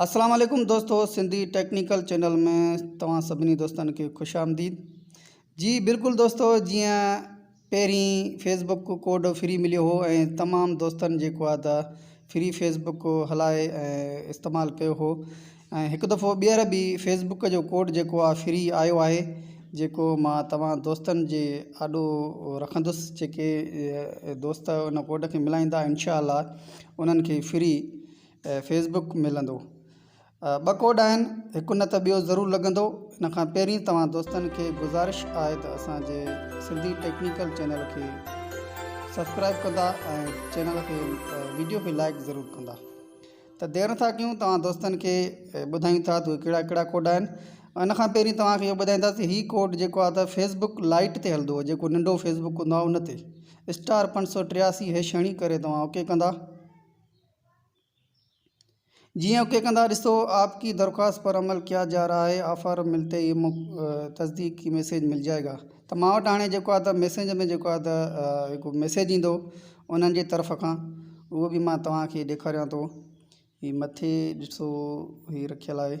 السلام عليڪم دوستو سنڌي ٽيڪنيڪل چينل ۾ توهان سڀني دوستن کي خوش آمديد جي بلڪل دوستو جيئن پهرين فيس بڪ ڪوڊ فري مليو هو ۽ تمام دوستن جيڪو آهي ته فري فيس بڪ هلائي ۽ استعمال ڪيو هو ۽ هڪ دفعو ٻيهر به فيس بڪ جو ڪوڊ جيڪو آهي فري آيو آهي جيڪو مان توهان دوستن جي آڏو رکندس جيڪي دوست ان ڪوڊ کي ملائيندا انشاء الله انهن کي فري ۽ فيس بڪ ملندو. ٻه ڪوڊ آهن هڪ نه ته ٻيو ضرور لڳندو. ان کان پهرين توهان دوستن کي گذارش آهي ته اسان جي سنڌي ٽيڪنيڪل چينل کي سبسڪرائب ڪندا ۽ چينل کي ويڊيو کي لائيڪ ضرور ڪندا ته دير نٿا ڪيون توهان دوستن کي ٻڌايون ٿا ته اهي ڪهڙا ڪهڙا ڪوڊ آهن ان کان پهرين توهان کي اهو ٻڌائيندا ته هي ڪوڊ جيڪو آهي ته فيس بڪ لائيٽ تي هلندو جيڪو ننڍو فيس بڪ هوندو آهي ان تي اسٽار پنج سؤ ٽياسي هيش هڻي ڪري توهان اوڪي ڪندا. جيئن اوڪي ڪندا ڏسو آپ ڪي درخواست پر عمل ڪيا جا رها هي آفر ملتي ئي مون تصديق ڪي ميسيج مل جائي گا ته مان وٽ هاڻي جيڪو آهي ته ميسينج ۾ جيڪو آهي ته هڪ ميسيج ايندو انهن جي طرف کان اهو به مان توهان کي ڏيکاريان ٿو هي مٿي ڏسو هي رکيل آهي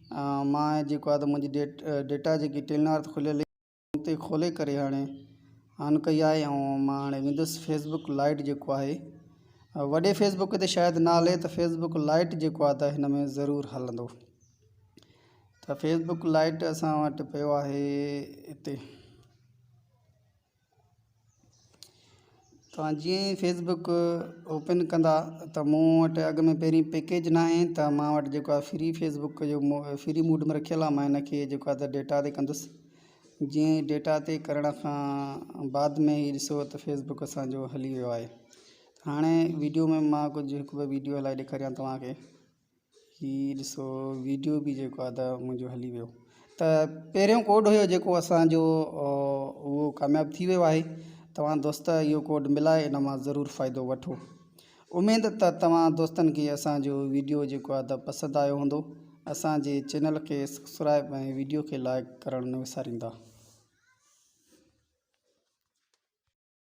مان جيڪو آهي ته منهنجي ڊيٽا جيڪي ٽيل نارٿ کليل هئي ان تي کولي ڪري هاڻي آن ڪئي آهي ۽ مان هاڻي ويندس فيس بڪ لائٽ جيڪو آهي وڏي فيس بڪ تي شايد نه هلي ته فيس بڪ لائٽ جيڪو آهي ته هن ۾ ضرور هلندو ته فيس بڪ لائٽ اسان وٽ پيو آهي هتي توهان جيئن ئي فيس بڪ اوپن ڪندا ته مون وٽ اڳ ۾ پهرين پيڪيج نه آهي ته مان وٽ جيڪو آهي فري فيس بڪ جو فري موڊ ۾ رکيل آهي مان ان کي جيڪو آهي ته ڊيٽا تي ڪندس جيئن ئي ڊيٽا تي ڪرڻ کان بعد ۾ هي ڏسو ته فيس بڪ اسانجو هلي ويو آهي هاڻي ويڊيو ۾ مان ڪجهه هڪ ٻه ويڊيو هلائي ڏيکاريان ٿو توهان کي هي ڏسو ويڊيو به جيڪو آهي ته منهنجو هلي ويو ته پهريون ڪوڊ هيو جيڪو اسانجو اهو ڪامياب ٿي ويو آهي توهان دوست اهو ڪوڊ ملائي ان مان ضرور فائدو وٺو اميد ته توهان دوستن کي اسانجو ويڊيو جيڪو آهي ته پسند آيو هوندو اسانجي چينل کي سبسڪرائب ۽ ويڊيو کي لائڪ ڪرڻ نه وساريندا